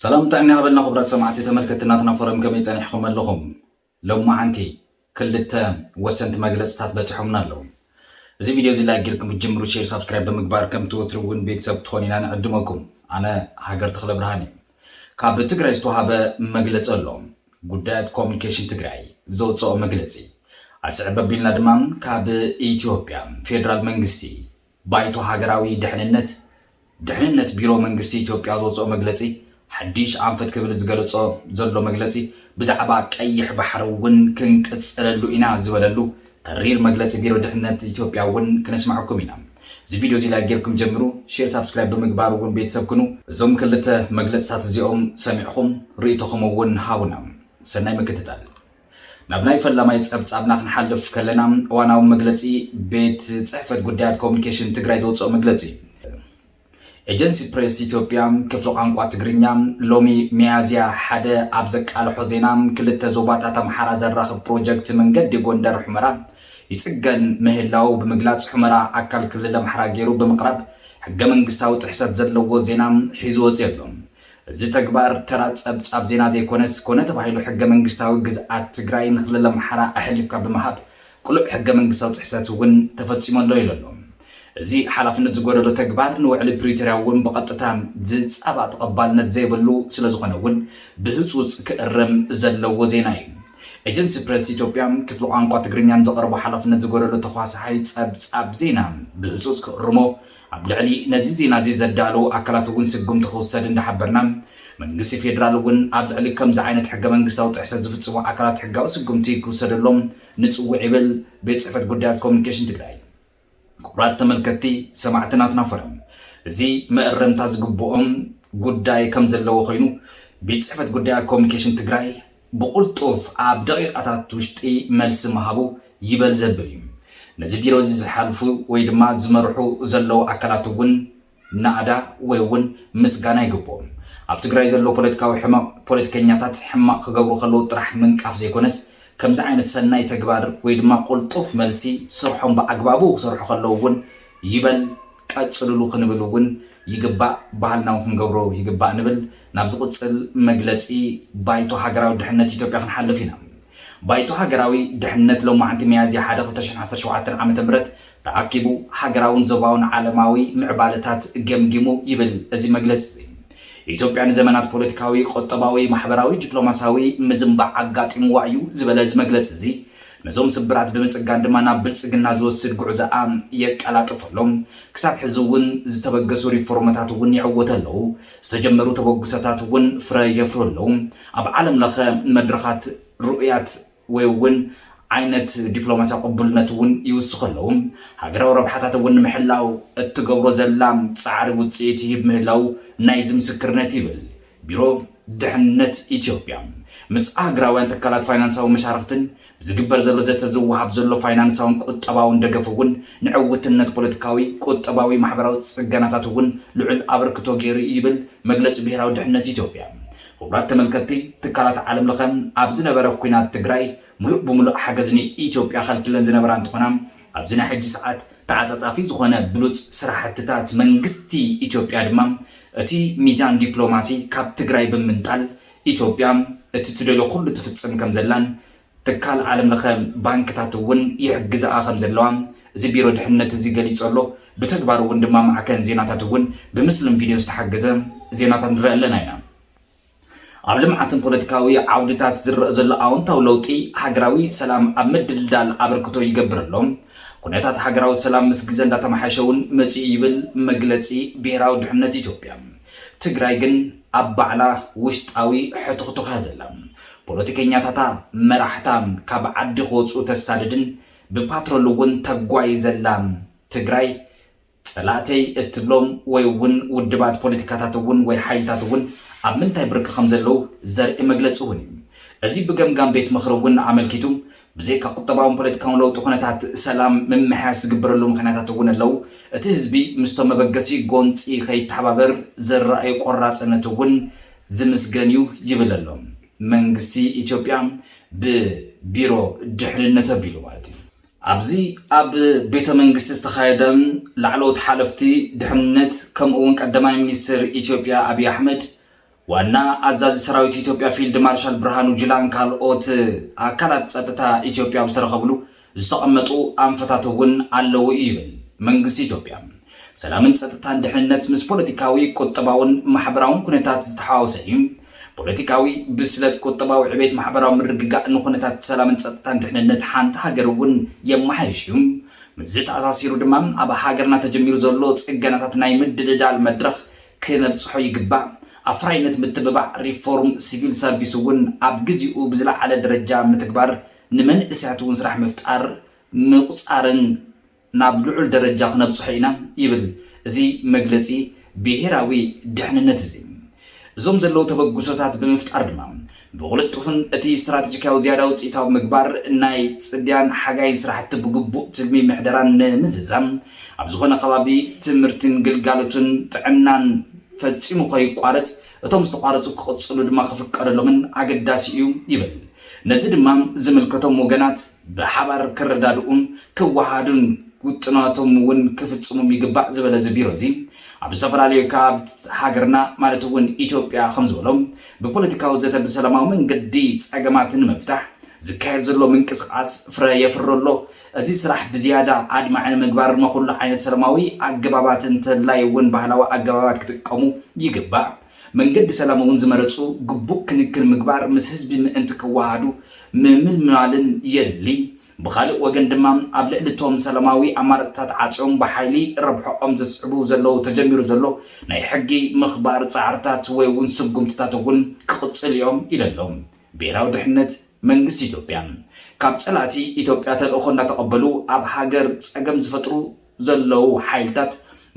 ሰላም ጥዕና ይሃበልና ክቡራት ሰማዕቲ ተመልከቲ ናትና ፎረም ከመይ ጸኒሕኹም ኣለኹም ሎማዓንቲ ክልተ ወሰንቲ መግለጽታት በጺሖምና ኣለዉ እዚ ቪድዮ እዚ ላይክ ጌርኩም ክትጅምሩ ሼር ሳብስክራይብ ብምግባር ከምቲ ወትሩ እውን ቤተሰብ ክትኾኑ ኢና ንዕድመኩም ኣነ ሃገር ተኽለ ብርሃን እዩ ካብ ትግራይ ዝተዋሃበ መግለጺ ኣሎ ጉዳያት ኮሚኒኬሽን ትግራይ ዘውፅኦ መግለፂ ኣስዕብ ኣቢልና ድማ ካብ ኢትዮጵያ ፌዴራል መንግስቲ ባይቶ ሃገራዊ ድሕንነት፣ ድሕንነት ቢሮ መንግስቲ ኢትዮጵያ ዘውጽኦ መግለጺ ሓዲሽ ኣንፈት ክብል ዝገለጾ ዘሎ መግለጺ ብዛዕባ ቀይሕ ባሕሪ እውን ክንቅጽለሉ ኢና ዝበለሉ ተሪር መግለጺ ቢሮ ድሕንነት ኢትዮጵያ እውን ክነስመዐኩም ኢና። እዚ ቪድዮ እዚ ላይክ ጌርኩም ጀምሩ፣ ሼር ሳብስክራይብ ብምግባር እውን ቤተሰብ ኩኑ። እዞም ክልተ መግለጽታት እዚኦም ሰሚዕኹም ርእይቶኹም እውን ሃቡና። ሰናይ ምክትታል። ናብ ናይ ፈላማይ ጸብጻብና ክንሓልፍ ከለና እዋናዊ መግለጺ ቤት ጽሕፈት ጉዳያት ኮሙኒኬሽን ትግራይ ዘውጽኦ መግለጺ እዩ። ኤጀንሲ ፕሬስ ኢትዮጵያ ክፍሊ ቋንቋ ትግርኛ ሎሚ ሚያዝያ ሓደ ኣብ ዘቃልሖ ዜና ክልተ ዞባታት ኣምሓራ ዘራኽብ ፕሮጀክት መንገዲ ጎንደር ሑመራ ይጽገን ምህላዉ ብምግላጽ ሑመራ ኣካል ክልል ኣምሓራ ገይሩ ብምቕራብ ሕገ መንግስታዊ ጥሕሰት ዘለዎ ዜና ሒዙ ወጺኡ ኣሎ። እዚ ተግባር ተራ ጸብጻብ ዜና ዘይኮነስ፣ ኮነ ተባሂሉ ሕገ መንግስታዊ ግዝኣት ትግራይ ንክልል ኣምሓራ ኣሕሊፍካ ብምሃብ ቅሉዕ ሕገ መንግስታዊ ጥሕሰት እውን ተፈጺሙ ኣሎ ኢሉ ኣሎ። እዚ ሓላፍነት ዝጎደሎ ተግባር ንውዕሊ ፕሪቶርያ እውን ብቐጥታ ዝጻባእ ተቐባልነት ዘይብሉ ስለዝኾነ እውን ብህጹጽ ክእረም ዘለዎ ዜና እዩ። ኤጀንሲ ፕረስ ኢትዮጵያ ክፍሊ ቋንቋ ትግርኛን ዘቕርቦ ሓላፍነት ዝጎደሎ ተኳሳሓይ ጸብጻብ ዜና ብህጹጽ ክእርሞ ኣብ ልዕሊ ነዚ ዜና'ዚ ዘዳለዉ ኣካላት'ውን ስጉምቲ ክውሰድ እንዳሓበርና፣ መንግስቲ ፌደራል'ውን ኣብ ልዕሊ ከምዚ ዓይነት ሕገ-መንግስታዊ ጥሕሰት ዝፍጽሙ ኣካላት ሕጋዊ ስጉምቲ ክውሰደሎም ንጽውዕ ይብል ቤት ጽሕፈት ጉዳያት ኮሙኒኬሽን ትግራይ። ክቡራት ተመልከትቲ ሰማዕቲ ናትና ፎረም እዚ መእረምታ ዝግብኦም ጉዳይ ከምዘለዎ ኮይኑ ቤት ጽሕፈት ጉዳያት ኮሙኒኬሽን ትግራይ ብቕልጡፍ ኣብ ደቒቓታት ውሽጢ መልሲ ምሃቡ ይበል ዘብል እዩ። ነዚ ቢሮ'ዚ ዝሓልፉ ወይ ድማ ዝመርሑ ዘለዉ ኣካላት እውን ናእዳ ወይ እውን ምስጋና ይግብኦም። ኣብ ትግራይ ዘሎ ፖለቲካዊ ሕመቕ ፖለቲከኛታት ሕማቕ ክገብሩ ከለዉ ጥራሕ ምንቃፍ ዘይኮነስ ከምዚ ዓይነት ሰናይ ተግባር ወይ ድማ ቅልጡፍ መልሲ ስርሖም ብኣግባቡ ክሰርሑ ከለዉ እውን ይበል ቀፅልሉ ክንብል እውን ይግባእ ባህልና እውን ክንገብሮ ይግባእ ንብል ናብ ዝቕፅል መግለፂ ባይቶ ሃገራዊ ድሕነት ኢትዮጵያ ክንሓልፍ ኢና ባይቶ ሃገራዊ ድሕነት ሎማዕንቲ ሚያዝያ ሓደ ክልተ ሽሕን ዓሰርተ ሸውዓተን ዓመተ ምህረት ተኣኪቡ ሃገራውን ዞባውን ዓለማዊ ምዕባለታት ገምጊሙ ይብል እዚ መግለፂ እዚ ኢትዮጵያ ንዘመናት ፖለቲካዊ ቁጠባዊ ማሕበራዊ ዲፕሎማሲያዊ ምዝንባዕ ኣጋጢምዋ እዩ ዝበለ እዚ መግለፂ እዚ ነዞም ስብራት ብምፅጋን ድማ ናብ ብልፅግና ዝወስድ ጉዕዞኣ የቀላጥፉ ኣሎ። ክሳብ ሕዚ እውን ዝተበገሱ ሪፎርምታት እውን ይዕወቱ ኣለዉ። ዝተጀመሩ ተበግሶታት እውን ፍረ የፍሩ ኣለዉ። ኣብ ዓለም ለኸ መድረኻት ርኡያት ወይ እውን ዓይነት ዲፕሎማስያ ቅቡልነት እውን ይውስኹ ኣለዉ። ሃገራዊ ረብሓታት እውን ንምሕላው እትገብሮ ዘላ ፃዕሪ ውፅኢት ይህብ ምህላዉ ናይዚ ምስክርነት እዩ ይብል ቢሮ ድሕነት ኢትዮጵያ ምስ ኣህግራውያን ትካላት ፋይናንሳዊ መሻርኽትን ብዝግበር ዘሎ ዘተ ዝወሃብ ዘሎ ፋይናንሳውን ቁጠባውን ደገፍ እውን ንዕውትነት ፖለቲካዊ፣ ቁጠባዊ፣ ማሕበራዊ ፅገናታት እውን ልዑል ኣበርክቶ ገይሩ እዩ ይብል መግለፂ ብሄራዊ ድሕነት ኢትዮጵያ። ኽቡራት ተመልከትቲ፣ ትካላት ዓለም ለኸ ኣብ ዝነበረ ኲናት ትግራይ ሙሉእ ብሙሉእ ሓገዝ ንኢትዮጵያ ኸልኪለን ዝነበራ እንትኾና፣ ኣብዚ ናይ ሕጂ ሰዓት ተዓጻጻፊ ዝኾነ ብሉጽ ስራሕትታት መንግስቲ ኢትዮጵያ ድማ እቲ ሚዛን ዲፕሎማሲ ካብ ትግራይ ብምንጣል ኢትዮጵያ እቲ ትደልዮ ኩሉ ትፍጽም ከምዘላን ትካል ዓለም ለኸ ባንክታት እውን ይሕግዝኣ ከምዘለዋ እዚ ቢሮ ድሕነት እዚ ገሊጾ ኣሎ ብተግባር እውን ድማ ማዕከን ዜናታት እውን ብምስልን ቪድዮን ዝተሓገዘ ዜናታት ንርኢ ኣለና ኢና። ኣብ ልምዓትን ፖለቲካዊ ዓውድታት ዝረእ ዘሎ ኣወንታዊ ለውጢ ሃገራዊ ሰላም ኣብ ምድልዳል ኣበርክቶ ይገብር ኣሎ። ኩነታት ሃገራዊ ሰላም ምስ ግዘ እንዳተመሓየሸ እውን መፂኡ ይብል መግለፂ ብሄራዊ ድሕነት ኢትዮጵያ። ትግራይ ግን ኣብ ባዕላ ውሽጣዊ ሕቱኽቱኽ እያ ዘላ። ፖለቲከኛታታ መራሕታ ካብ ዓዲ ክወፅኡ ተሳድድን ብፓትሮል እውን ተጓይ ዘላ ትግራይ፣ ጸላእተይ እትብሎም ወይ እውን ውድባት ፖለቲካታት እውን ወይ ሓይልታት እውን ኣብ ምንታይ ብርኪ ከም ዘለዉ ዘርኢ መግለጺ እውን እዩ። እዚ ብገምጋም ቤት ምኽሪ እውን ኣመልኪቱ ብዘይካ ቁጠባውን ፖለቲካውን ለውጢ ኩነታት ሰላም ምምሕያሽ ዝግበረሉ ምኽንያታት እውን ኣለዉ። እቲ ህዝቢ ምስቶም መበገሲ ጎንጺ ከይተሓባበር ዘረኣዩ ቆራጽነት እውን ዝምስገን እዩ ይብል ኣሎ መንግስቲ ኢትዮጵያ ብቢሮ ድሕንነት ኣቢሉ ማለት እዩ። ኣብዚ ኣብ ቤተ መንግስቲ ዝተኻየደ ላዕለዎት ሓለፍቲ ድሕንነት ከምኡ እውን ቀዳማይ ሚኒስትር ኢትዮጵያ ኣብዪ ኣሕመድ፣ ዋና ኣዛዚ ሰራዊት ኢትዮጵያ ፊልድ ማርሻል ብርሃኑ ጁላን ካልኦት ኣካላት ፀጥታ ኢትዮጵያ ኣብ ዝተረኸብሉ ዝተቐመጡ ኣንፈታት እውን ኣለዉ እዩ ይብል መንግስቲ ኢትዮጵያ። ሰላምን ፀጥታን ድሕንነት ምስ ፖለቲካዊ፣ ቁጠባውን ማሕበራውን ኩነታት ዝተሓዋወሰ እዩ። ፖለቲካዊ ብስለት፣ ቁጠባዊ ዕቤት፣ ማሕበራዊ ምርግጋእ ንኩነታት ሰላምን ጸጥታን ድሕንነት ሓንቲ ሃገር እውን የመሓይሽ እዩ። ምስዚ ተኣሳሲሩ ድማ ኣብ ሃገርና ተጀሚሩ ዘሎ ጽገናታት ናይ ምድልዳል መድረኽ ክነብጽሖ ይግባእ። ኣፍራይነት ምትብባዕ ሪፎርም ሲቪል ሰርቪስ እውን ኣብ ግዚኡ ብዝለዓለ ደረጃ ምትግባር፣ ንመንእሰያት እውን ስራሕ ምፍጣር ምቁጻርን፣ ናብ ልዑል ደረጃ ክነብጽሖ ኢና ይብል እዚ መግለጺ ብሄራዊ ድሕንነት እዚ። እዞም ዘለዉ ተበግሶታት ብምፍጣር ድማ ብቕልጡፍን እቲ ስትራተጂካዊ ዝያዳ ውጽኢታዊ ምግባር ናይ ጽድያን ሓጋይን ስራሕቲ ብግቡእ ትልሚ ምሕደራን ንምዝዛም ኣብ ዝኾነ ከባቢ ትምህርቲን ግልጋሎትን ጥዕናን ፈጺሙ ከይቋረጽ እቶም ዝተቋረጹ ክቕጽሉ ድማ ክፍቀደሎምን ኣገዳሲ እዩ ይብል። ነዚ ድማ ዝምልከቶም ወገናት ብሓባር ክረዳድኡን ክወሃሃዱን ውጥናቶም እውን ክፍፅሙም ይግባእ ዝበለ እዚ ቢሮ እዚ ኣብ ዝተፈላለዩ ከባብት ሃገርና ማለት እውን ኢትዮጵያ ከምዝበሎ ብፖለቲካዊ ዘተ ብሰላማዊ መንገዲ ፀገማት ንምፍታሕ ዝካየድ ዘሎ ምንቅስቓስ ፍረ የፍሪ ኣሎ። እዚ ስራሕ ብዝያዳ ኣድማዒ ንምግባር መኹሉ ዓይነት ሰላማዊ ኣገባባት እንተላይ እውን ባህላዊ ኣገባባት ክጥቀሙ ይግባእ። መንገዲ ሰላም እውን ዝመረፁ ግቡእ ክንክን ምግባር ምስ ህዝቢ ምእንቲ ክወሃሃዱ ምምልማልን የድሊ። ብኻሊእ ወገን ድማ ኣብ ልዕሊ እቶም ሰላማዊ ኣማራፅታት ዓፅዮም ብሓይሊ ረብሕኦም ዘስዕቡ ዘለዉ ተጀሚሩ ዘሎ ናይ ሕጊ ምኽባር ፃዕርታት ወይ እውን ስጉምትታት እውን ክቕፅሉ እዮም ኢለ ኣሎ ብሄራዊ ድሕነት መንግስቲ ኢትዮጵያ ካብ ፀላእቲ ኢትዮጵያ ተልእኾ እናተቐበሉ ኣብ ሃገር ፀገም ዝፈጥሩ ዘለዉ ሓይልታት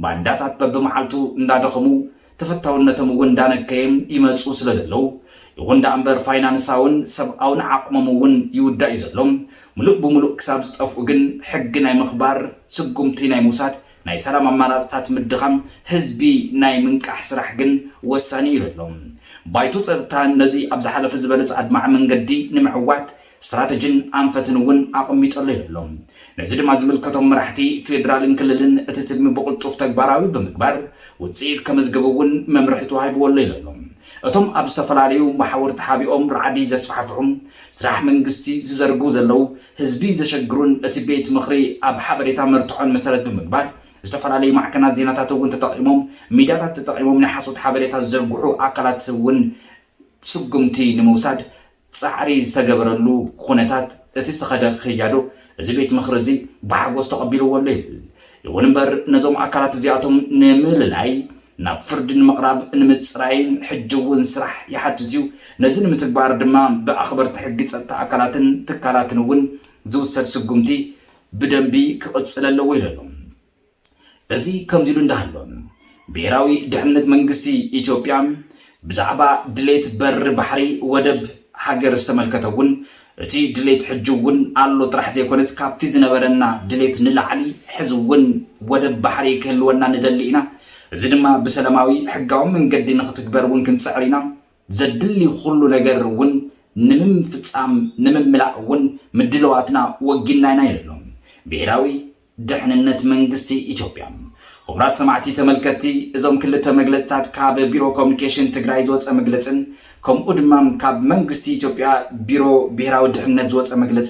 ባንዳታት በብመዓልቱ እንዳደኸሙ ተፈታውነቶም እውን እንዳነከየ ይመፁ ስለ ዘለዉ ይኹን ዳኣምበር ፋይናንሳውን ሰብኣውን ዓቕሞም እውን ይውዳእ እዩ ዘሎ ሙሉእ ብሙሉእ ክሳብ ዝጠፍኡ ግን ሕጊ ናይ ምኽባር ስጉምቲ ናይ ምውሳድ ናይ ሰላም ኣማራፅታት ምድኻም ህዝቢ ናይ ምንቃሕ ስራሕ ግን ወሳኒ እዩ ኣሎ ባይቶ ፀጥታ ነዚ ኣብ ዝሓለፈ ዝበለፀ ኣድማዒ መንገዲ ንምዕዋት ስትራተጂን ኣንፈትን እውን ኣቐሚጡ ኣሎ ይብሉ። ነዚ ድማ ዝምልከቶም መራሕቲ ፌዴራልን ክልልን እቲ ትልሚ ብቕልጡፍ ተግባራዊ ብምግባር ውፅኢት ከመዝግብ እውን መምርሒ ተዋሂብዎ ኣሎ ይለሉ እቶም ኣብ ዝተፈላለዩ መሓውር ተሓቢኦም ራዕዲ ዘስፋሕፍሑ ስራሕ መንግስቲ ዝዘርግሁ ዘለው ህዝቢ ዘሸግሩን እቲ ቤት ምኽሪ ኣብ ሓበሬታ መርትዖን መሰረት ብምግባር ዝተፈላለዩ ማዕከናት ዜናታት እውን ተጠቒሞም ሚድያታት ተጠቒሞም ናይ ሓሶት ሓበሬታ ዝዘርግሑ ኣካላት እውን ስጉምቲ ንምውሳድ ጻዕሪ ዝተገበረሉ ኹነታት እቲ ዝተኸደ ከያዶ እዚ ቤት ምኽሪ እዚ ብሓጎስ ተቐቢልዎ ኣሎ ይብል። ይኹን እምበር ነዞም ኣካላት እዚኣቶም ንምልላይ፣ ናብ ፍርዲ ንምቕራብ፣ ንምጽራይ ሕጂ እውን ስራሕ ይሓትት እዩ። ነዚ ንምትግባር ድማ ብኣኽበርቲ ሕጊ ጸጥታ ኣካላትን ትካላትን እውን ዝውሰድ ስጉምቲ ብደንቢ ክቕጽል ኣለዎ ኢሉ ኣሎ። እዚ ከምዚሉ እንዳሃሎ ብሄራዊ ድሕነት መንግስቲ ኢትዮጵያ ብዛዕባ ድሌት በሪ ባሕሪ ወደብ ሃገር ዝተመልከተ እውን እቲ ድሌት ሕጂ እውን ኣሎ ጥራሕ ዘይኮነስ ካብቲ ዝነበረና ድሌት ንላዕሊ ሕዚ እውን ወደብ ባሕሪ ክህልወና ንደሊ ኢና እዚ ድማ ብሰለማዊ ሕጋዊ መንገዲ ንክትግበር እውን ክንፅዕር ኢና ዘድሊ ኩሉ ነገር እውን ንምምፍፃም ንምምላእ እውን ምድልዋትና ወጊንና ኢና ኢሉ ኣሎ ብሄራዊ ደሕንነት መንግስቲ ኢትዮጵያ። ኽቡራት ሰማዕቲ ተመልከትቲ እዞም ክልተ መግለፅታት ካብ ቢሮ ኮሙኒኬሽን ትግራይ ዝወፀ መግለፅን ከምኡ ድማ ካብ መንግስቲ ኢትዮጵያ ቢሮ ብሄራዊ ድሕንነት ዝወፀ መግለፂ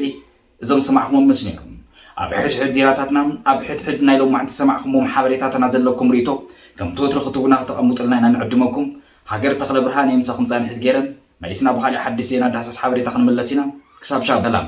እዞም ዝሰማዕኹምዎም ምስ ነይሩ ኣብ ሕድ ሕድ ዜናታትና ኣብ ሕድ ሕድ ናይ ሎማዕንቲ ዝሰማዕኹምዎም ሓበሬታትና ዘለኩም ርኢቶ ከምቲ ወትሩ ክትቡና ክተቐምጡልና ኢና ንዕድመኩም ሃገር ተኽለ ብርሃን እየ ምሳኹም ፃንሒት ገይረ መሊስና ብኻሊእ ሓድሽ ዜና ዳህሳስ ሓበሬታ ክንምለስ ኢና ክሳብ ሻብ ሰላም